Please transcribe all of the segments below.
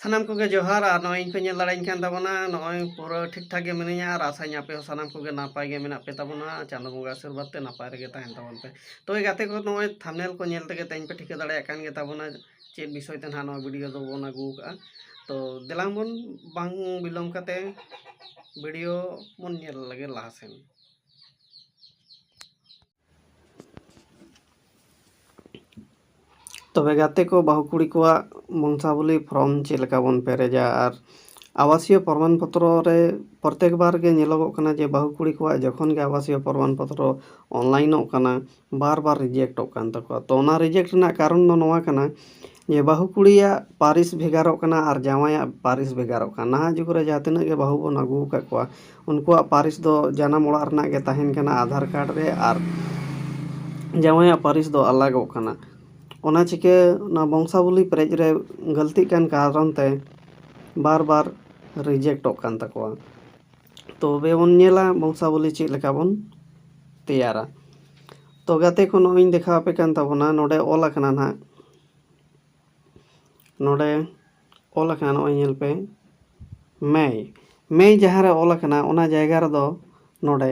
ᱥᱟᱱᱟᱢ ᱠᱚᱜᱮ ᱡᱚᱦᱟᱨ ᱟᱨ ᱱᱚᱜᱼᱚᱭ ᱤᱧ ᱯᱮ ᱧᱮᱞ ᱫᱟᱲᱮᱭᱟᱹᱧ ᱠᱟᱱ ᱛᱟᱵᱚᱱᱟ ᱱᱚᱜᱼᱚᱭ ᱯᱩᱨᱟᱹ ᱴᱷᱤᱠ ᱴᱷᱟᱠ ᱜᱮ ᱢᱤᱱᱟᱹᱧᱟ ᱟᱨ ᱟᱥᱟᱧ ᱟᱯᱮ ᱦᱚᱸ ᱥᱟᱱᱟᱢ ᱠᱚᱜᱮ ᱱᱟᱯᱟᱭ ᱜᱮ ᱢᱮᱱᱟᱜ ᱯᱮ ᱛᱟᱵᱚᱱᱟ ᱪᱟᱸᱫᱚ ᱵᱚᱸᱜᱟ ᱟᱥᱤᱨᱵᱟᱫᱽ ᱛᱮ ᱱᱟᱯᱟᱭ ᱨᱮᱜᱮ ᱛᱟᱦᱮᱱ ᱛᱟᱵᱚᱱ ᱯᱮ ᱛᱚᱵᱮ ᱜᱟᱛᱮ ᱠᱚ ᱱᱚᱜᱼᱚᱭ ᱛᱷᱟᱢᱱᱮᱞ ᱠᱚ ᱧᱮᱞ ᱛᱮᱜᱮ ᱛᱮᱦᱮᱧ ᱯᱮ ᱴᱷᱤᱠᱟᱹ ᱫᱟᱲᱮᱭᱟᱜ ᱠᱟᱱ ᱜᱮ ᱛᱟᱵᱚᱱᱟ ᱪᱮᱫ ᱵᱤᱥᱚᱭ ᱛᱮ ᱱᱟᱦᱟᱜ ᱱᱚᱣᱟ ᱵᱷᱤᱰᱤᱭᱳ ᱫᱚᱵᱚᱱ ᱟᱹᱜᱩ ᱠᱟᱜᱼᱟ ᱛᱚ ᱫᱮᱞᱟᱝ ᱵᱚᱱ ᱵᱟᱝ ᱵᱤᱞᱚᱢ ᱠᱟᱛᱮ ᱵᱷᱤᱰᱤᱭᱳ ᱵᱚᱱ ᱧᱮᱞ ᱞᱮᱜᱮ ᱞᱟᱦᱟ ᱥᱮᱱ ᱛᱚᱵᱮ ᱜᱟᱛᱮ ᱠᱚ ᱵᱟᱹᱦᱩ ᱠᱩᱲᱤ ᱠᱚᱣᱟᱜ ᱵᱚᱝᱥᱟᱵᱚᱞᱤ ᱯᱷᱨᱚᱢ ᱪᱮᱫ ᱞᱮᱠᱟ ᱵᱚᱱ ᱯᱮᱨᱮᱡᱟ ᱟᱨ ᱟᱵᱟᱥᱤᱭᱚ ᱯᱨᱚᱢᱟᱱ ᱯᱚᱛᱨᱚ ᱨᱮ ᱯᱨᱚᱛᱮᱠ ᱵᱟᱨ ᱜᱮ ᱧᱮᱞᱚᱜᱚᱜ ᱠᱟᱱᱟ ᱡᱮ ᱵᱟᱹᱦᱩ ᱠᱩᱲᱤ ᱠᱚᱣᱟᱜ ᱡᱚᱠᱷᱚᱱ ᱜᱮ ᱟᱵᱟᱥᱤᱭᱚ ᱯᱨᱚᱢᱟᱱ ᱯᱚᱛᱨᱚ ᱚᱱᱞᱟᱭᱤᱱᱚᱜ ᱠᱟᱱᱟ ᱵᱟᱨ ᱵᱟᱨ ᱨᱤᱡᱮᱠᱴᱚᱜ ᱠᱟᱱ ᱛᱟᱠᱚᱣᱟ ᱛᱚ ᱚᱱᱟ ᱨᱤᱡᱮᱠᱴ ᱨᱮᱱᱟᱜ ᱠᱟᱨᱚᱱ ᱫᱚ ᱱᱚᱣᱟ ᱠᱟᱱᱟ ᱡᱮ ᱵᱟᱹᱦᱩ ᱠᱩᱲᱤᱭᱟᱜ ᱯᱟᱹᱨᱤᱥ ᱵᱷᱮᱜᱟᱨᱚᱜ ᱠᱟᱱᱟ ᱟᱨ ᱡᱟᱶᱟᱭᱟᱜ ᱯᱟᱹᱨᱤᱥ ᱵᱷᱮᱜᱟᱨᱚᱜ ᱠᱟᱱᱟ ᱱᱟᱦᱟᱜ ᱡᱩᱜᱽ ᱨᱮ ᱡᱟᱦᱟᱸ ᱛᱤᱱᱟᱹᱜ ᱜᱮ ᱵᱟᱹᱦᱩ ᱵᱚᱱ ᱟᱹᱜᱩ ᱟᱠᱟᱫ ᱠᱚᱣᱟ ᱩᱱᱠᱩᱣᱟᱜ ᱯᱟᱹᱨᱤᱥ ᱫᱚ ᱡᱟᱱᱟᱢ ᱚᱲᱟᱜ ᱨᱮᱱᱟᱜ ᱜᱮ ᱛᱟᱦᱮᱱ ᱠᱟᱱᱟ ᱟᱫᱷᱟᱨ ᱠᱟᱨᱰ ᱨᱮ ᱟᱨ ᱡᱟᱶᱟᱭᱟᱜ ᱯᱟᱹᱨᱤᱥ ᱫᱚ ᱟᱞᱟᱜᱚᱜ ᱠᱟᱱᱟ ᱚᱱᱟ ᱪᱤᱠᱟᱹ ᱚᱱᱟ ᱵᱚᱝᱥᱟᱵᱚᱞᱤ ᱯᱮᱨᱮᱡ ᱨᱮ ᱜᱟᱹᱞᱛᱤᱜ ᱠᱟᱱ ᱠᱟᱨᱚᱱ ᱛᱮ ᱵᱟᱨ ᱵᱟᱨ ᱨᱤᱡᱮᱠᱴᱚᱜ ᱠᱟᱱ ᱛᱟᱠᱚᱣᱟ ᱛᱚᱵᱮ ᱵᱚᱱ ᱧᱮᱞᱟ ᱵᱚᱝᱥᱟ ᱵᱚᱞᱤ ᱪᱮᱫ ᱞᱮᱠᱟ ᱵᱚᱱ ᱛᱮᱭᱟᱨᱟ ᱛᱚ ᱜᱟᱛᱮ ᱠᱚ ᱱᱚᱜᱼᱚᱭᱤᱧ ᱫᱮᱠᱷᱟᱣ ᱟᱯᱮ ᱠᱟᱱ ᱛᱟᱵᱚᱱᱟ ᱱᱚᱰᱮ ᱚᱞ ᱟᱠᱟᱱᱟ ᱱᱟᱦᱟᱜ ᱱᱚᱰᱮ ᱚᱞ ᱟᱠᱟᱱᱟ ᱱᱚᱜᱼᱚᱭ ᱧᱮᱞ ᱯᱮ ᱢᱮᱭ ᱢᱮᱭ ᱡᱟᱦᱟᱸ ᱨᱮ ᱚᱞ ᱟᱠᱟᱱᱟ ᱚᱱᱟ ᱡᱟᱭᱜᱟ ᱨᱮᱫᱚ ᱱᱚᱰᱮ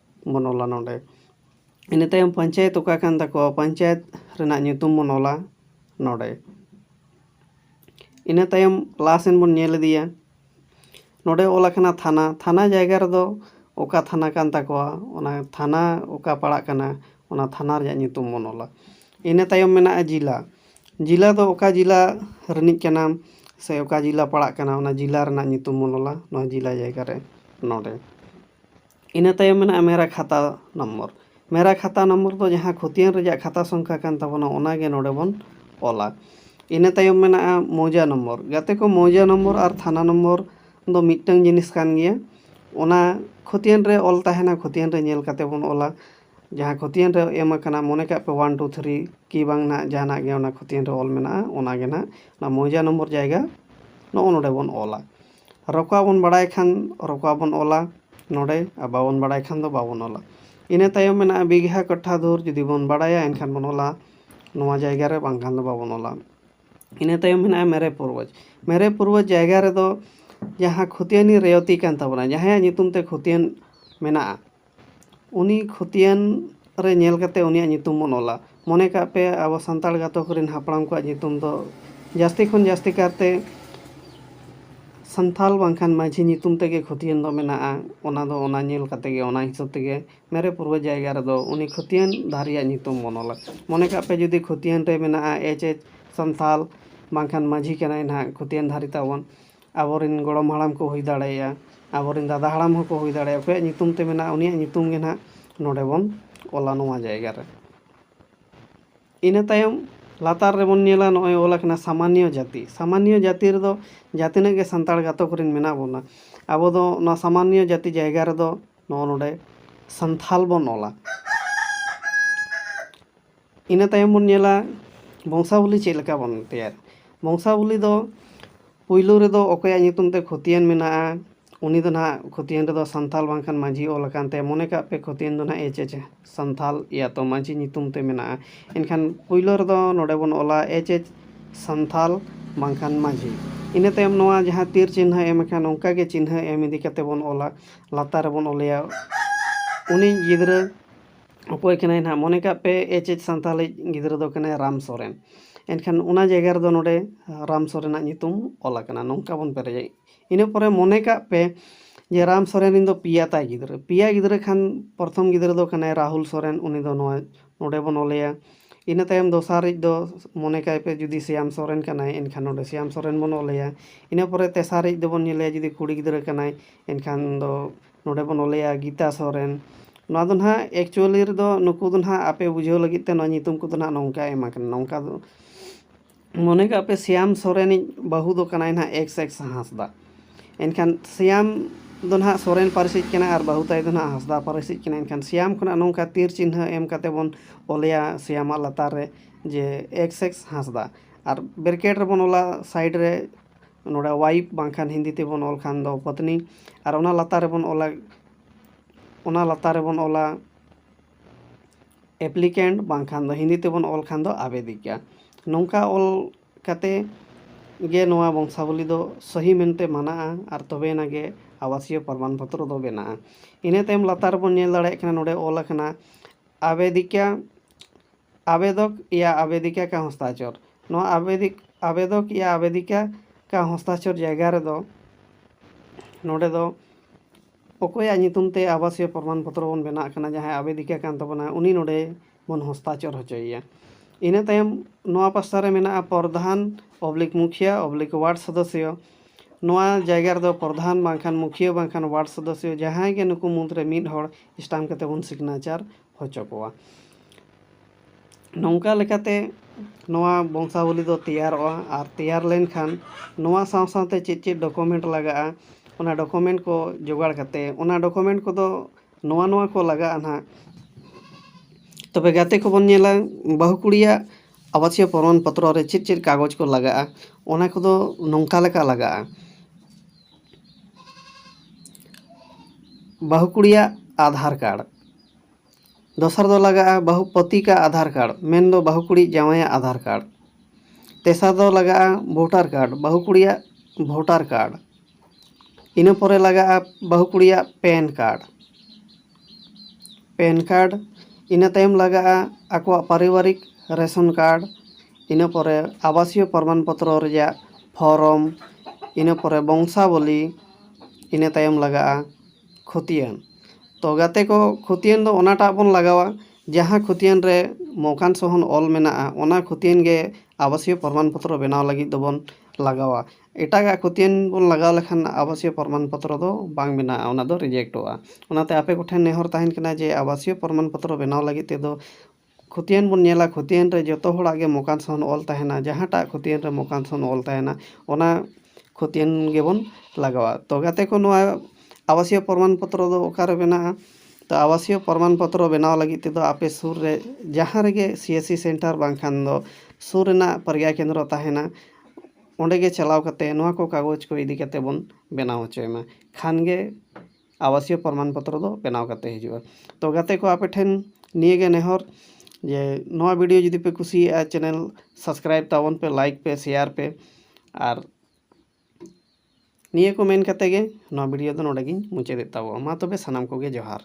ᱵᱚᱱ ᱚᱞᱟ ᱱᱚᱰᱮ ᱤᱱᱟᱹ ᱛᱟᱭᱚᱢ ᱯᱚᱧᱪᱟᱭᱮᱛ ᱚᱠᱟ ᱠᱟᱱ ᱛᱟᱠᱚᱣᱟ ᱯᱚᱧᱪᱟᱭᱮᱛ ᱨᱮᱱᱟᱜ ᱧᱩᱛᱩᱢ ᱵᱚᱱ ᱚᱞᱟ ᱱᱚᱰᱮ ᱤᱱᱟᱹ ᱛᱟᱭᱚᱢ ᱞᱟᱦᱟ ᱥᱮᱱ ᱵᱚᱱ ᱧᱮᱞ ᱤᱫᱤᱭᱟ ᱱᱚᱰᱮ ᱚᱞ ᱟᱠᱟᱱᱟ ᱛᱷᱟᱱᱟ ᱛᱷᱟᱱᱟ ᱡᱟᱭᱜᱟ ᱨᱮᱫᱚ ᱚᱠᱟ ᱛᱷᱟᱱᱟ ᱠᱟᱱ ᱛᱟᱠᱚᱣᱟ ᱚᱱᱟ ᱛᱷᱟᱱᱟ ᱚᱠᱟ ᱯᱟᱲᱟᱜ ᱠᱟᱱᱟ ᱚᱱᱟ ᱛᱷᱟᱱᱟ ᱨᱮᱭᱟᱜ ᱧᱩᱛᱩᱢ ᱵᱚᱱ ᱚᱞᱟ ᱤᱱᱟᱹ ᱛᱟᱭᱚᱢ ᱢᱮᱱᱟᱜᱼᱟ ᱡᱮᱞᱟ ᱡᱮᱞᱟ ᱫᱚ ᱚᱠᱟ ᱡᱮᱞᱟ ᱨᱤᱱᱤᱡ ᱠᱟᱱᱟᱢ ᱥᱮ ᱚᱠᱟ ᱡᱮᱞᱟ ᱯᱟᱲᱟᱜ ᱠᱟᱱᱟ ᱚᱱᱟ ᱡᱮᱞᱟ ᱨᱮᱱᱟᱜ ᱧᱩᱛᱩᱢ ᱵᱚᱱ ᱚᱞᱟ ᱱᱚᱣᱟ ᱡᱮᱞᱟ ᱡᱟᱭᱜᱟ ᱨᱮ ᱱᱚᱰᱮ ᱤᱱᱟᱹ ᱛᱟᱭᱚᱢ ᱢᱮᱱᱟᱜᱼᱟ ᱢᱮᱨᱟ ᱠᱷᱟᱛᱟ ᱱᱚᱢᱵᱚᱨ ᱢᱮᱨᱟ ᱠᱷᱟᱛᱟ ᱱᱚᱢᱵᱚᱨ ᱫᱚ ᱡᱟᱦᱟᱸ ᱠᱷᱚᱛᱤᱭᱟᱱ ᱨᱮᱭᱟᱜ ᱠᱷᱟᱛᱟ ᱥᱚᱝᱠᱷᱟ ᱠᱟᱱ ᱛᱟᱵᱚᱱᱟ ᱚᱱᱟᱜᱮ ᱱᱚᱰᱮ ᱵᱚᱱ ᱚᱞᱟ ᱤᱱᱟᱹ ᱛᱟᱭᱚᱢ ᱢᱮᱱᱟᱜᱼᱟ ᱢᱳᱡᱟ ᱱᱚᱢᱵᱚᱨ ᱜᱟᱛᱮ ᱠᱚ ᱢᱳᱡᱟ ᱱᱚᱢᱵᱚᱨ ᱟᱨ ᱛᱷᱟᱱᱟ ᱱᱚᱢᱵᱚᱨ ᱫᱚ ᱢᱤᱫᱴᱟᱝ ᱡᱤᱱᱤᱥ ᱠᱟᱱ ᱜᱮᱭᱟ ᱚᱱᱟ ᱠᱷᱚᱛᱤᱭᱟᱱ ᱨᱮ ᱚᱞ ᱛᱟᱦᱮᱱᱟ ᱠᱷᱚᱛᱤᱭᱟᱱ ᱨᱮ ᱧᱮᱞ ᱠᱟᱛᱮᱫ ᱵᱚᱱ ᱚᱞᱟ ᱡᱟᱦᱟᱸ ᱠᱷᱚᱛᱤᱭᱟᱱ ᱨᱮ ᱮᱢ ᱟᱠᱟᱱᱟ ᱢᱚᱱᱮ ᱠᱟᱜ ᱯᱮ ᱚᱣᱟᱱ ᱴᱩ ᱛᱷᱨᱤ ᱠᱤ ᱵᱟᱝ ᱱᱟᱜ ᱡᱟᱦᱟᱱᱟᱜ ᱜᱮ ᱚᱱᱟ ᱠᱷᱚᱛᱤᱭᱟᱱ ᱨᱮ ᱚᱞ ᱢᱮᱱᱟᱜᱼᱟ ᱚᱱᱟᱜᱮ ᱱᱟᱜ ᱚᱱᱟ ᱢᱳᱡᱟ ᱱᱚᱢᱵᱚᱨ ᱡᱟᱭᱜᱟ ᱱᱚᱜᱼᱚ ᱱᱚᱰᱮ ᱵᱚᱱ ᱚᱞᱟ ᱨᱚᱠᱟ ᱵᱚᱱ ᱵᱟᱲᱟᱭ ᱠᱷᱟᱱ ᱨᱚᱠᱟ ᱵᱚᱱ ᱚᱞᱟ ᱱᱚᱰᱮ ᱟᱨ ᱵᱟᱵᱚᱱ ᱵᱟᱲᱟᱭ ᱠᱷᱟᱱ ᱫᱚ ᱵᱟᱵᱚᱱ ᱚᱞᱟ ᱤᱱᱟᱹ ᱛᱟᱭᱚᱢ ᱢᱮᱱᱟᱜᱼᱟ ᱵᱤᱜᱷᱟ ᱠᱟᱴᱷᱟ ᱫᱷᱩᱨ ᱡᱩᱫᱤ ᱵᱚᱱ ᱵᱟᱲᱟᱭᱟ ᱮᱱᱠᱷᱟᱱ ᱵᱚᱱ ᱚᱞᱟ ᱱᱚᱣᱟ ᱡᱟᱭᱜᱟ ᱨᱮ ᱵᱟᱝᱠᱷᱟᱱ ᱫᱚ ᱵᱟᱵᱚᱱ ᱚᱞᱟ ᱤᱱᱟᱹ ᱛᱟᱭᱚᱢ ᱢᱮᱱᱟᱜᱼᱟ ᱢᱮᱨᱮ ᱯᱩᱨᱵᱚᱡᱽ ᱢᱮᱨᱮ ᱯᱩᱨᱵᱚᱡᱽ ᱡᱟᱭᱜᱟ ᱨᱮᱫᱚ ᱡᱟᱦᱟᱸ ᱠᱷᱚᱛᱤᱭᱟᱱᱤ ᱨᱮᱣᱛᱤ ᱠᱟᱱ ᱛᱟᱵᱚᱱᱟ ᱡᱟᱦᱟᱸᱭᱟᱜ ᱧᱩᱛᱩᱢ ᱛᱮ ᱠᱷᱚᱛᱤᱭᱟᱱ ᱢᱮᱱᱟᱜᱼᱟ ᱩᱱᱤ ᱠᱷᱚᱛᱤᱭᱟᱱ ᱨᱮ ᱧᱮᱞ ᱠᱟᱛᱮᱫ ᱩᱱᱤᱭᱟᱜ ᱧᱩᱛᱩᱢ ᱵᱚᱱ ᱚᱞᱟ ᱢᱚᱱᱮ ᱠᱟᱜ ᱯᱮ ᱟᱵᱚ ᱥᱟᱱᱛᱟᱲ ᱜᱟᱛᱟᱠ ᱨᱮᱱ ᱦᱟᱯᱲᱟᱢ ᱠᱚᱣᱟᱜ ᱧᱩᱛᱩᱢ ᱫᱚ ᱡᱟᱹᱥᱛᱤ ᱠᱷᱚᱱ ᱡᱟᱹᱥᱛᱤ ᱠᱟᱨᱛᱮ ᱥᱟᱱᱛᱟᱲ ᱵᱟᱝᱠᱷᱟᱱ ᱢᱟᱹᱡᱷᱤ ᱧᱩᱛᱩᱢ ᱛᱮᱜᱮ ᱠᱷᱚᱛᱤᱭᱟᱱ ᱫᱚ ᱢᱮᱱᱟᱜᱼᱟ ᱚᱱᱟ ᱫᱚ ᱚᱱᱟ ᱧᱮᱞ ᱠᱟᱛᱮᱫ ᱜᱮ ᱚᱱᱟ ᱦᱤᱥᱟᱹᱵᱽ ᱛᱮᱜᱮ ᱢᱮᱨᱮ ᱯᱩᱨᱵᱷᱩ ᱡᱟᱭᱜᱟ ᱨᱮᱫᱚ ᱩᱱᱤ ᱠᱷᱚᱛᱤᱭᱟᱱ ᱫᱷᱟᱹᱨᱤᱡ ᱧᱩᱛᱩᱢ ᱵᱚᱱ ᱚᱞᱟ ᱢᱚᱱᱮ ᱠᱟᱜ ᱯᱮ ᱡᱩᱫᱤ ᱠᱷᱚᱛᱤᱭᱟᱱ ᱨᱮ ᱢᱮᱱᱟᱜᱼᱟ ᱮᱭᱤᱪ ᱮᱥ ᱥᱟᱱᱛᱟᱲ ᱵᱟᱝᱠᱷᱟᱱ ᱢᱟᱹᱡᱷᱤ ᱠᱟᱱᱟᱭ ᱱᱟᱦᱟᱜ ᱠᱷᱚᱛᱤᱭᱟᱱ ᱫᱷᱟᱹᱨᱤᱡ ᱛᱟᱵᱚᱱ ᱟᱵᱚᱨᱮᱱ ᱜᱚᱲᱚᱢ ᱦᱟᱲᱟᱢ ᱠᱚ ᱦᱩᱭ ᱫᱟᱲᱮᱭᱟᱜᱼᱟ ᱟᱵᱚᱨᱮᱱ ᱫᱟᱫᱟ ᱦᱟᱲᱟᱢ ᱦᱚᱸᱠᱚ ᱦᱩᱭ ᱫᱟᱲᱮᱭᱟᱜᱼᱟ ᱚᱠᱚᱭᱟᱜ ᱧᱩᱛᱩᱢ ᱛᱮ ᱢᱮᱱᱟᱜᱼᱟ ᱩᱱᱤᱭᱟᱜ ᱧᱩᱛᱩᱢ ᱜᱮ ᱱᱟᱦᱟᱜ ᱱᱚᱰᱮ ᱵᱚᱱ ᱚᱞᱟ ᱱᱚᱣᱟ ᱡᱟᱭᱜᱟ ᱨᱮ ᱤᱱᱟᱹ ᱛᱟᱭᱚᱢ ᱞᱟᱛᱟᱨ ᱨᱮᱵᱚᱱ ᱧᱮᱞᱟ ᱱᱚᱜᱼᱚᱭ ᱚᱞ ᱟᱠᱟᱱᱟ ᱥᱟᱢᱟᱱᱱᱚ ᱡᱟᱹᱛᱤ ᱥᱟᱢᱟᱱᱱᱚ ᱡᱟᱹᱛᱤ ᱨᱮᱫᱚ ᱡᱟᱦᱟᱸ ᱛᱤᱱᱟᱹᱜ ᱜᱮ ᱥᱟᱱᱛᱟᱲ ᱜᱟᱛᱟᱠ ᱨᱮᱱ ᱢᱮᱱᱟᱜ ᱵᱚᱱᱟ ᱟᱵᱚ ᱫᱚ ᱚᱱᱟ ᱥᱟᱢᱟᱱᱱᱚ ᱡᱟᱹᱛᱤ ᱡᱟᱭᱜᱟ ᱨᱮᱫᱚ ᱱᱚᱜᱼᱚ ᱱᱚᱰᱮ ᱥᱟᱱᱛᱷᱟᱞ ᱵᱚᱱ ᱚᱞᱟ ᱤᱱᱟᱹ ᱛᱟᱭᱚᱢ ᱵᱚᱱ ᱧᱮᱞᱟ ᱵᱚᱝᱥᱟᱵᱚᱞᱤ ᱪᱮᱫ ᱞᱮᱠᱟ ᱵᱚᱱ ᱛᱮᱭᱟᱨᱟ ᱵᱚᱝᱥᱟᱵᱚᱞᱤ ᱫᱚ ᱯᱩᱭᱞᱩ ᱨᱮᱫᱚ ᱚᱠᱚᱭᱟᱜ ᱧᱩᱛᱩᱢ ᱛᱮ ᱠᱷᱚᱛᱤᱭᱟᱱ ᱢᱮᱱᱟᱜᱼᱟ ᱩᱱᱤ ᱫᱚ ᱱᱟᱦᱟᱜ ᱠᱷᱚᱛᱤᱭᱟᱱ ᱨᱮᱫᱚ ᱥᱟᱱᱛᱟᱲ ᱵᱟᱝᱠᱷᱟᱱ ᱢᱟᱹᱡᱷᱤ ᱚᱞ ᱟᱠᱟᱱ ᱛᱟᱭᱟ ᱢᱚᱱᱮ ᱠᱟᱜ ᱯᱮ ᱠᱷᱚᱛᱤᱭᱟᱱ ᱫᱚ ᱱᱟᱦᱟᱜ ᱮᱪ ᱮᱪ ᱥᱟᱱᱛᱟᱲ ᱤᱭᱟᱛᱚ ᱢᱟᱹᱡᱷᱤ ᱧᱩᱛᱩᱢ ᱛᱮ ᱢᱮᱱᱟᱜᱼᱟ ᱮᱱᱠᱷᱟᱱ ᱯᱩᱭᱞᱩ ᱨᱮᱫᱚ ᱱᱚᱰᱮ ᱵᱚᱱ ᱚᱞᱟ ᱮᱪ ᱮᱪ ᱥᱟᱱᱛᱟᱲ ᱵᱟᱝᱠᱷᱟᱱ ᱢᱟᱹᱡᱷᱤ ᱤᱱᱟᱹ ᱛᱟᱭᱚᱢ ᱱᱚᱣᱟ ᱡᱟᱦᱟᱸ ᱛᱤᱨ ᱪᱤᱱᱦᱟᱹ ᱮᱢ ᱟᱠᱟᱱ ᱚᱱᱠᱟ ᱜᱮ ᱪᱤᱱᱦᱟᱹ ᱮᱢ ᱤᱫᱤ ᱠᱟᱛᱮᱫ ᱵᱚᱱ ᱚᱞᱟ ᱞᱟᱛᱟᱨ ᱨᱮᱵᱚᱱ ᱚᱞ ᱟᱭᱟ ᱩᱱᱤ ᱜᱤᱫᱽᱨᱟᱹ ᱚᱠᱚᱭ ᱠᱟᱱᱟᱭ ᱱᱟᱦᱟᱜ ᱢᱚᱱᱮ ᱠᱟᱜ ᱯᱮ ᱮᱭᱤᱪ ᱮᱥ ᱥᱟᱱᱛᱟᱲᱤᱡ ᱜᱤᱫᱽᱨᱟᱹ ᱫᱚ ᱠᱟᱱᱟᱭ ᱨᱟᱢ ᱥᱚᱨᱮᱱ ᱮᱱᱠᱷᱟᱱ ᱚᱱᱟ ᱡᱟᱭᱜᱟ ᱨᱮᱫᱚ ᱱᱚᱰᱮ ᱨᱟᱢ ᱥᱚᱨᱮᱱ ᱟᱜ ᱧᱩᱛᱩᱢ ᱚᱞ ᱟᱠᱟᱱᱟ ᱱᱚᱝᱠᱟ ᱵᱚᱱ ᱯᱮᱨᱮᱡᱟ ᱤᱱᱟᱹ ᱯᱚᱨᱮ ᱢᱚᱱᱮ ᱠᱟᱜ ᱯᱮ ᱡᱮ ᱨᱟᱢ ᱥᱚᱨᱮᱱ ᱨᱮᱱ ᱫᱚ ᱯᱮᱭᱟ ᱛᱟᱭ ᱜᱤᱫᱽᱨᱟᱹ ᱯᱮᱭᱟ ᱜᱤᱫᱽᱨᱟᱹ ᱠᱷᱟᱱ ᱯᱨᱚᱛᱷᱚᱢ ᱜᱤᱫᱽᱨᱟᱹ ᱫᱚ ᱠᱟᱱᱟᱭ ᱨᱟᱦᱩᱞ ᱥᱚᱨᱮᱱ ᱩᱱᱤ ᱫᱚ ᱱᱚᱣᱟ ᱱᱚᱰᱮ ᱵᱚᱱ ᱚᱞᱮᱭᱟ ᱤᱱᱟᱹ ᱛᱟᱭᱚᱢ ᱫᱚᱥᱟᱨᱤᱡ ᱫᱚ ᱢᱚᱱᱮ ᱠᱟᱭ ᱯᱮ ᱡᱩᱫᱤ ᱥᱮᱭᱟᱢ ᱥᱚᱨᱮᱱ ᱠᱟᱱᱟᱭ ᱮᱱᱠᱷᱟᱱ ᱱᱚᱰᱮ ᱥᱮᱭᱟᱢ ᱥᱚᱨᱮᱱ ᱵᱚᱱ ᱚᱞᱮᱭᱟ ᱤᱱᱟᱹ ᱯᱚᱨᱮ ᱛᱮᱥᱟᱨᱤᱡ ᱫᱚᱵᱚᱱ ᱧᱮᱞᱮᱭᱟ ᱡᱩᱫᱤ ᱠᱩᱲᱤ ᱜᱤᱫᱽᱨᱟᱹ ᱠᱟᱱᱟᱭ ᱮᱱᱠᱷᱟᱱ ᱫᱚ ᱱᱚᱰᱮ ᱵᱚᱱ ᱚᱞᱮᱭᱟ ᱜᱤᱛᱟ ᱥᱚᱨᱮᱱ ᱱᱚᱣᱟ ᱫᱚ ᱱᱟᱦᱟᱜ ᱮᱠᱪᱩᱭᱮᱞᱤ ᱨᱮᱫᱚ ᱱᱩᱠᱩ ᱫᱚ ᱱᱟᱦᱟᱜ ᱟᱯᱮ ᱵᱩᱡᱷᱟᱹᱣ ᱞᱟᱹᱜᱤᱫ ᱛᱮ ᱱᱚᱣᱟ ᱧᱩᱛᱩᱢ ᱠᱚᱫᱚ ᱱᱟᱦᱟᱜ ᱱᱚᱝᱠᱟ ᱮᱢ ᱟᱠᱟᱱᱟ ᱱᱚᱝᱠᱟ ᱫᱚ ᱢᱚᱱᱮ ᱠᱟᱜ ᱯᱮ ᱥᱮᱭᱟᱢ ᱥᱚᱨᱮᱱᱤᱡ ᱵᱟᱹᱦᱩ ᱫᱚ ᱠᱟᱱᱟᱭ ᱱᱟᱦᱟᱜ ᱮᱠᱥ ᱮᱠᱥ ᱦᱟᱸᱥᱫᱟ ᱮᱱᱠᱷᱟᱱ ᱥᱮᱭᱟᱢ ᱫᱚ ᱱᱟᱦᱟᱜ ᱥᱚᱨᱮᱱ ᱯᱟᱹᱨᱥᱤᱭᱤᱡ ᱠᱟᱱᱟᱭ ᱟᱨ ᱵᱟᱹᱦᱩ ᱛᱟᱭ ᱫᱚ ᱱᱟᱦᱟᱜ ᱦᱟᱸᱥᱫᱟ ᱯᱟᱹᱨᱥᱤᱭᱤᱡ ᱠᱟᱱᱟᱭ ᱮᱱᱠᱷᱟᱱ ᱥᱮᱭᱟᱢ ᱠᱷᱚᱱᱟᱜ ᱱᱚᱝᱠᱟ ᱛᱤᱨ ᱪᱤᱱᱦᱟᱹ ᱮᱢ ᱠᱟᱛᱮᱫ ᱵᱚᱱ ᱚᱞᱮᱭᱟ ᱥᱮᱭᱟᱢᱟᱜ ᱞᱟᱛᱟᱨ ᱨᱮ ᱡᱮ ᱮᱠᱥ ᱮᱠᱥ ᱦᱟᱸᱥᱫᱟ ᱟᱨ ᱵᱨᱮᱠᱮᱴ ᱨᱮᱵᱚᱱ ᱚᱞᱟ ᱥᱟᱭᱤᱰ ᱨᱮ ᱱᱚᱰᱮ ᱚᱣᱟᱭᱤᱯ ᱵᱟᱝᱠᱷᱟᱱ ᱦᱤᱱᱫᱤ ᱛᱮᱵᱚᱱ ᱚᱞ ᱠᱷᱟᱱ ᱫᱚ ᱯᱚᱛᱱᱤ ᱟᱨ ᱚᱱᱟ ᱞᱟᱛᱟᱨ ᱨᱮᱵᱚᱱ ᱚᱞᱟ ᱚᱱᱟ ᱞᱟᱛᱟᱨ ᱨᱮᱵᱚᱱ ᱚᱞᱟ ᱮᱯᱞᱤᱠᱮᱱᱴ ᱵᱟᱝᱠᱷᱟᱱ ᱫᱚ ᱦᱤᱱᱫᱤ ᱛᱮᱵᱚᱱ ᱚᱞ ᱠᱷᱟᱱ ᱫᱚ ᱟᱵᱮᱫᱤᱠᱟ ᱱᱚᱝᱠᱟ ᱚᱞ ᱠᱟᱛᱮ ᱜᱮ ᱱᱚᱣᱟ ᱵᱚᱝᱥᱟᱵᱚᱞᱤ ᱫᱚ ᱥᱟᱹᱦᱤ ᱢᱮᱱᱛᱮ ᱢᱟᱱᱟᱜᱼᱟ ᱟᱨ ᱛᱚᱵᱮ ᱟᱱᱟᱜ ᱜᱮ ᱟᱵᱟᱥᱤᱭᱚ ᱯᱨᱚᱢᱟᱱ ᱯᱚᱛᱨᱚ ᱫᱚ ᱵᱮᱱᱟᱜᱼᱟ ᱤᱱᱟᱹ ᱛᱟᱭᱚᱢ ᱞᱟᱛᱟᱨ ᱨᱮᱵᱚᱱ ᱧᱮᱞ ᱫᱟᱲᱮᱭᱟᱜ ᱠᱟᱱᱟ ᱱᱚᱰᱮ ᱚᱞ ᱟᱠᱟᱱᱟ ᱟᱵᱮᱫᱤᱠᱟ ᱟᱵᱮᱫᱚᱠ ᱮᱭᱟ ᱟᱵᱮᱫᱤᱠᱟ ᱠᱟ ᱦᱚᱥᱛᱟᱪᱚᱨ ᱱᱚᱣᱟ ᱟᱵᱮᱫᱤᱠ ᱟᱵᱮᱫᱚᱠ ᱮᱭᱟ ᱟᱵᱮᱫᱤᱠᱟ ᱠᱟ ᱦᱚᱥᱛᱟᱪᱚᱨ ᱡᱟᱭᱜᱟ ᱨᱮᱫᱚ ᱱᱚᱰᱮ ᱫᱚ ᱚᱠᱚᱭᱟᱜ ᱧᱩᱛᱩᱢ ᱛᱮ ᱟᱵᱟᱥᱤᱭᱚ ᱯᱨᱚᱢᱟᱱ ᱯᱚᱛᱨᱚ ᱵᱚᱱ ᱵᱮᱱᱟᱣᱟᱜ ᱠᱟᱱᱟ ᱡᱟᱦᱟᱸᱭ ᱟᱵᱮᱫᱤᱠᱟ ᱠᱟᱱ ᱛᱟᱵᱚᱱᱟ ᱩᱱᱤ ᱱᱚᱰᱮ ᱵᱚᱱ ᱦᱚᱥᱛᱟᱪᱚᱨ ᱦᱚᱪᱚᱭᱮᱭᱟ ᱤᱱᱟᱹ ᱛᱟᱭᱚᱢ ᱱᱚᱣᱟ ᱯᱟᱥᱴᱟ ᱨᱮ ᱢᱮᱱᱟᱜᱼᱟ ᱯᱨᱚᱫᱷᱟᱱ ᱚᱵᱽᱞᱤᱠ ᱢᱩᱠᱷᱤᱭᱟᱹ ᱚᱵᱽᱞᱤᱠ ᱚᱣᱟᱨᱰ ᱥᱚᱫᱚᱥᱥᱚ ᱱᱚᱣᱟ ᱡᱟᱭᱜᱟ ᱨᱮᱫᱚ ᱯᱨᱚᱫᱷᱟᱱ ᱵᱟᱝᱠᱷᱟᱱ ᱢᱩᱠᱷᱤᱭᱟᱹ ᱵᱟᱝᱠᱷᱟᱱ ᱚᱣᱟᱨᱰ ᱥᱚᱫᱚᱥᱥᱚ ᱡᱟᱦᱟᱸᱭ ᱜᱮ ᱱᱩᱠᱩ ᱢᱩᱫᱽᱨᱮ ᱢᱤᱫ ᱦᱚᱲ ᱥᱴᱟᱢ ᱠᱟᱛᱮᱫ ᱵᱚᱱ ᱥᱤᱜᱽᱱᱮᱪᱟᱨ ᱦᱚᱪᱚ ᱠᱚᱣᱟ ᱱᱚᱝᱠᱟ ᱞᱮᱠᱟᱛᱮ ᱱᱚᱣᱟ ᱵᱚᱝᱥᱟᱵᱚᱞᱤ ᱫᱚ ᱛᱮᱭᱟᱨᱚᱜᱼᱟ ᱟᱨ ᱛᱮᱭᱟᱨ ᱞᱮᱱᱠᱷᱟᱱ ᱱᱚᱣᱟ ᱥᱟᱶ ᱥᱟᱶᱛᱮ ᱪᱮᱫ ᱪᱮᱫ ᱰᱚᱠᱚᱢᱮᱱᱴ ᱞᱟᱜᱟᱜᱼᱟ ᱚᱱᱟ ᱰᱚᱠᱚᱢᱮᱱᱴ ᱠᱚ ᱡᱚᱜᱟᱲ ᱠᱟᱛᱮᱫ ᱚᱱᱟ ᱰᱚᱠᱚᱢᱮᱱᱴ ᱠᱚᱫᱚ ᱱᱚᱣᱟ ᱱᱚᱣᱟ ᱠᱚ ᱞᱟᱜᱟᱜᱼᱟ ᱦᱟᱸᱜ ᱛᱚᱵᱮ ᱜᱟᱛᱮ ᱠᱚᱵᱚᱱ ᱧᱮᱞᱟ ᱵᱟᱹᱦᱩ ᱠᱩᱲᱤᱭᱟᱜ ᱟᱵᱟᱥᱤᱭᱚ ᱯᱨᱚᱢᱟᱱ ᱯᱚᱛᱨᱚ ᱨᱮ ᱪᱮᱫ ᱪᱮᱫ ᱠᱟᱜᱚᱡᱽ ᱠᱚ ᱞᱟᱜᱟᱜᱼᱟ ᱚᱱᱟ ᱠᱚᱫᱚ ᱱᱚᱝᱠᱟ ᱞᱮᱠᱟ ᱞᱟᱜᱟᱜᱼᱟ ᱵᱟᱹᱦᱩ ᱠᱩᱲᱤᱭᱟᱜ ᱟᱫᱷᱟᱨ ᱠᱟᱨᱰ ᱫᱚᱥᱟᱨ ᱫᱚ ᱞᱟᱜᱟᱜᱼᱟ ᱵᱟᱹᱦᱩ ᱯᱚᱛᱤ ᱠᱟ ᱟᱫᱷᱟᱨ ᱠᱟᱨᱰ ᱢᱮᱱ ᱫᱚ ᱵᱟᱹᱦᱩ ᱠᱩᱲᱤ ᱡᱟᱶᱟᱭᱟᱜ ᱟᱫᱷᱟᱨ ᱠᱟᱨᱰ ᱛᱮᱥᱟᱨ ᱫᱚ ᱞᱟᱜᱟᱜᱼᱟ ᱵᱷᱳᱴᱟᱨ ᱠᱟᱨᱰ ᱵᱟᱹᱦᱩ ᱠᱩᱲᱤᱭᱟᱜ ᱵᱷᱳᱴᱟᱨ ᱠᱟᱨᱰ ᱤᱱᱟᱹ ᱯᱚᱨᱮ ᱞᱟᱜᱟᱜᱼᱟ ᱵᱟᱹᱦᱩ ᱠᱩᱲᱤᱭᱟᱜ ᱯᱮᱱ ᱠᱟᱨᱰ ᱯᱮᱱ ᱠᱟᱨᱰ ᱤᱱᱟᱹ ᱛᱟᱭᱚᱢ ᱞᱟᱜᱟᱜᱼᱟ ᱟᱠᱚᱣᱟᱜ ᱯᱟᱨᱤᱵᱟᱨᱤᱠ ᱨᱮᱥᱚᱱ ᱠᱟᱨᱰ ᱤᱱᱟᱹ ᱯᱚᱨᱮ ᱟᱵᱟᱥᱤᱭᱚ ᱯᱨᱚᱢᱟᱱ ᱯᱚᱛᱨᱚ ᱨᱮᱭᱟᱜ ᱯᱷᱚᱨᱚᱢ ᱤᱱᱟᱹ ᱯᱚᱨᱮ ᱵᱚᱝᱥᱟᱵᱚᱞᱤ ᱤᱱᱟᱹ ᱛᱟᱭᱚᱢ ᱞᱟᱜᱟᱜᱼᱟ ᱠᱷᱚᱛᱤᱭᱟᱱ ᱛᱚ ᱜᱟᱛᱮ ᱠᱚ ᱠᱷᱚᱛᱤᱭᱟᱱ ᱫᱚ ᱚᱱᱟᱴᱟᱜ ᱵᱚᱱ ᱞᱟᱜᱟᱣᱟ ᱡᱟᱦᱟᱸ ᱠᱷᱚᱛᱤᱭᱟᱱ ᱨᱮ ᱢᱚᱠᱟᱱ ᱥᱚᱦᱚᱱ ᱚᱞ ᱢᱮᱱᱟᱜᱼᱟ ᱚᱱᱟ ᱠᱷᱚᱛᱤᱭᱟᱱ ᱜᱮ ᱟᱵᱟᱥᱤᱭᱚ ᱯᱨᱚᱢᱟᱱ ᱯᱚᱛᱨᱚ ᱵᱮᱱᱟᱣ ᱞᱟᱹᱜᱤᱫ ᱫᱚᱵᱚᱱ ᱞᱟᱜᱟᱣᱟ ᱮᱴᱟᱜᱟᱜ ᱠᱚᱛᱮ ᱵᱚᱱ ᱞᱟᱜᱟᱣ ᱞᱮᱠᱷᱟᱱ ᱟᱵᱟᱥᱤᱭᱚ ᱯᱨᱚᱢᱟᱱ ᱯᱚᱛᱨᱚ ᱫᱚ ᱵᱟᱝ ᱵᱮᱱᱟᱜᱼᱟ ᱚᱱᱟ ᱫᱚ ᱨᱤᱡᱮᱠᱴᱚᱜᱼᱟ ᱚᱱᱟᱛᱮ ᱟᱯᱮ ᱠᱚᱴᱷᱮᱱ ᱱᱮᱦᱚᱨ ᱛᱟᱦᱮᱱ ᱠᱟᱱᱟ ᱡᱮ ᱟᱵᱟᱥᱤᱭᱚ ᱯᱨᱚᱢᱟᱱ ᱯᱚᱛᱨᱚ ᱵᱮᱱᱟᱣ ᱞᱟᱹᱜᱤᱫ ᱛᱮᱫᱚ ᱠᱷᱚᱛᱤᱭᱟᱱ ᱵᱚᱱ ᱧᱮᱞᱟ ᱠᱷᱚᱛᱤᱭᱟᱱ ᱨᱮ ᱡᱚᱛᱚ ᱦᱚᱲᱟᱜ ᱜᱮ ᱢᱚᱠᱟᱱ ᱥᱚᱱ ᱚᱞ ᱛᱟᱦᱮᱱᱟ ᱡᱟᱦᱟᱸᱴᱟᱜ ᱠᱷᱚᱛᱤᱭᱟᱱ ᱨᱮ ᱢᱚᱠᱟᱱ ᱥᱚᱱ ᱚᱞ ᱛᱟᱦᱮᱱᱟ ᱚᱱᱟ ᱠᱷᱚᱛᱤᱭᱟᱱ ᱜᱮᱵᱚᱱ ᱞᱟᱜᱟᱣᱟ ᱛᱚ ᱜᱟᱛᱮ ᱠᱚ ᱱᱚᱣᱟ ᱟᱵᱟᱥᱤᱭᱚ ᱯᱨᱚᱢᱟᱱ ᱯᱚᱛᱨᱚ ᱫᱚ ᱚᱠᱟᱨᱮ ᱵᱮᱱᱟᱜᱼᱟ ᱛᱚ ᱟᱵᱟᱥᱤᱭᱚ ᱯᱨᱚᱢᱟᱱ ᱯᱚᱛᱨᱚ ᱵᱮᱱᱟᱣ ᱞᱟᱹᱜᱤᱫ ᱛᱮᱫᱚ ᱟᱯᱮ ᱥᱩᱨ ᱨᱮ ᱡᱟᱦᱟᱸ ᱨᱮᱜᱮ ᱥᱤ ᱮᱥ ᱥᱤ ᱥᱮᱱᱴᱟᱨ ᱵᱟᱝᱠᱷᱟᱱ ᱫᱚ ᱥᱩᱨ ᱨᱮᱱᱟᱜ ᱯᱨᱚᱜᱽᱜᱟ ᱠᱮᱱᱫᱨᱚ ᱛᱟᱦᱮᱱᱟ ᱚᱸᱰᱮ ᱜᱮ ᱪᱟᱞᱟᱣ ᱠᱟᱛᱮᱫ ᱱᱚᱣᱟ ᱠᱚ ᱠᱟᱜᱚᱡᱽ ᱠᱚ ᱤᱫᱤ ᱠᱟᱛᱮᱫ ᱵᱚᱱ ᱵᱮᱱᱟᱣ ᱦᱚᱪᱚᱭ ᱢᱟ ᱠᱷᱟᱱ ᱜᱮ ᱟᱵᱟᱥᱤᱭᱚ ᱯᱨᱚᱢᱟᱱ ᱯᱚᱛᱨᱚ ᱫᱚ ᱵᱮᱱᱟᱣ ᱠᱟᱛᱮᱫ ᱦᱤᱡᱩᱜᱼᱟ ᱛᱚ ᱜᱟᱛᱮ ᱠᱚ ᱟᱯᱮ ᱴᱷᱮᱱ ᱱᱤᱭᱟᱹ ᱜᱮ ᱱᱮᱦᱚᱨ ᱡᱮ ᱱᱚᱣᱟ ᱵᱷᱤᱰᱭᱳ ᱡᱩᱫᱤ ᱯᱮ ᱠᱩᱥᱤᱭᱟᱜᱼᱟ ᱪᱮᱱᱮᱞ ᱥᱟᱵᱥᱠᱨᱟᱭᱤᱵᱽ ᱛᱟᱵᱚᱱ ᱯᱮ ᱞᱟᱭᱤᱠ ᱯᱮ ᱥᱮᱭᱟᱨ ᱯᱮ ᱟᱨ ᱱᱤᱭᱟᱹ ᱠᱚ ᱢᱮᱱ ᱠᱟᱛᱮᱫ ᱜᱮ ᱱᱚᱣᱟ ᱵᱷᱤᱰᱭᱳ ᱫᱚ ᱱᱚᱰᱮ ᱜᱮᱧ ᱢᱩᱪᱟᱹᱫᱮᱫ ᱛᱟᱵᱚᱱᱟ ᱢᱟ ᱛᱚᱵᱮ ᱥᱟᱱᱟᱢ ᱠᱚᱜᱮ ᱡᱚᱦᱟᱨ